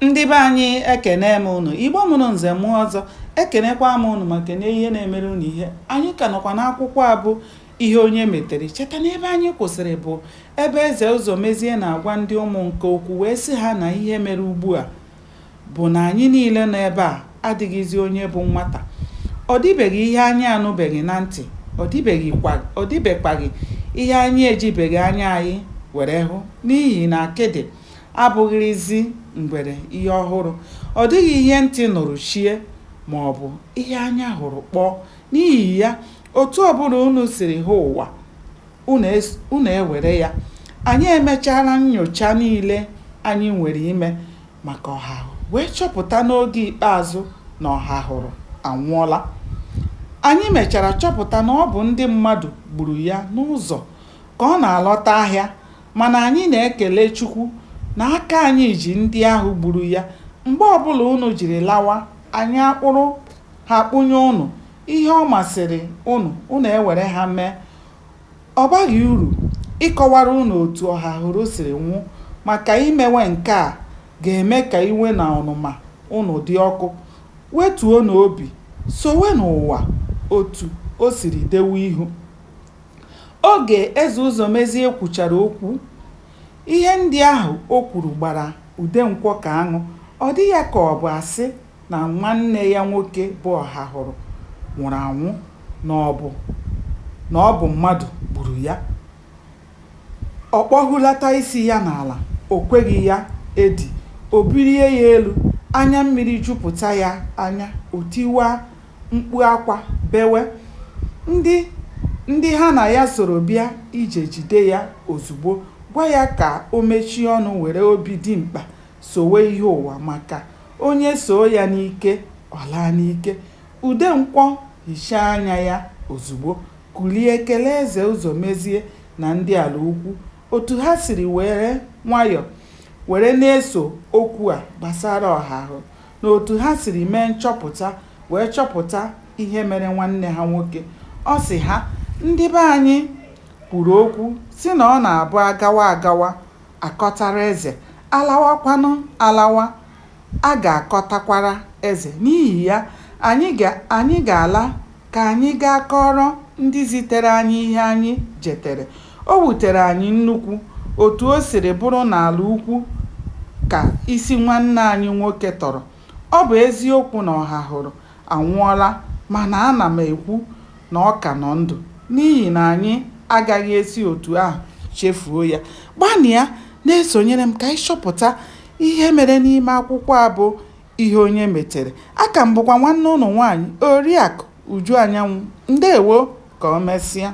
ndị be anyị ekene m ụnụ igbo mụrụ nze mụọ ọzọ ekenekwa m ụnụ ma kene ihe na-emere ụnụ ihe anyị ka nọkwa n'akwụkwọ a bụ ihe onye metere cheta na ebe anyị kwụsịrị bụ ebe eze ụzọmezie na-agwa ndị ụmụ nke okwu wee sị ha na ihe mere ugbu a bụ na anyị niile nọ ebe a adịghịzi onye bụ nwata ọ dịbeghị ihe anyị anụbeghị na ntị ọ dịbekwaghị ihe anyị ejibeghị anya anyị were hụ n'ihi na akịdị abụghịrịzi ngwere ihe ọhụrụ. Ọ dịghị ihe ntị nụrụ chie ma ọ bụ ihe anya hụrụ kpọọ. N'ihi ya, otu ọ bụla unu siri hụ ụwa, unu ewere ya. Anyị emechaala nnyocha niile anyị nwere ime maka Ọhahụ wee chọpụta n'oge ikpeazụ na Ọhahụrụ anwụọla. Anyị mechara chọpụta na ọ bụ ndị mmadụ gburu ya n'ụzọ ka ọ na-alọta ahịa Mana anyị na-ekele Chukwu na aka anyị ji ndị ahụ gburu ya. Mgbe ọbụla ụnụ jiri lawa, anyị akpụrụ ha kpụnye ụnụ. Ihe ọ masịrị ụnụ, ụnụ ewere ha mee. Ọ baghị uru ịkọwara ụnụ otu Ọhahụrụ siri nwụ maka imewe nke a ga-eme ka iwe na ọnụma ụnụ dị ọkụ. Wetuonụ obi, sowenụ ụwa otu o siri dewe ihu. Oge Eze Ụzọmezie kwuchara okwu, ihe ndị ahụ o kwuru gbara Udenkwọ ka aṅụ. Ọ dị ya ka ọ bụ asị na nwanne ya nwoke bụ Ọhahụrụ nwụrụ anwụ, na ọ bụ mmadụ gburu ya. Ọ kpọhulata isi ya n'ala, o kweghị ya edi, o bulie ya elu, anya mmiri jupụta ya anya, o tiwaa. mkpu akwa bewe, ndị ha na ya soro bịa ije jide ya ozugbo, gwa ya ka o mechie ọnụ were obi dimkpa sowe ihe ụwa maka onye soo ya n'ike, ọ laa n'ike. Udenkwọ hichaa anya ya ozugbo, kulie kelee Eze Ụzọmezie na ndị Ala Ukwu otu ha siri were nwayọ were na-eso okwu a gbasara Ọhahụ. na otu ha siri mee nchọpụta wee chọpụta ihe mere nwanne ha nwoke. Ọ sị ha, Ndị be anyị kwuru okwu sị na ọ na-abụ agawa agawa akọtara eze, alawakwanụ alawa a ga-akọtakwara eze. N'ihi ya, anyị ga-ala Ka anyị gaa kọọrọ ndị zitere anyị ihe anyị jetere. O wutere anyị nnukwu otu o siri bụrụ na ala ukwu ka isi nwanne anyị nwoke tọrọ. Ọ bụ eziokwu na Ọhahụrụ anwụọla, mana ana m ekwu na ọ ka nọ ndụ n'ihi na anyị agaghị esi otu ahụ chefuo ya. Gbanịa na-esonyere m ka anyị chọpụta ihe mere n'ime akwụkwọ a bụ Ihe onye metere. Aka m bụkwa nwanne ụnụ nwaanyị, Oriakụ Uju Anyanwụ. Ndewo! Ka o mesịa.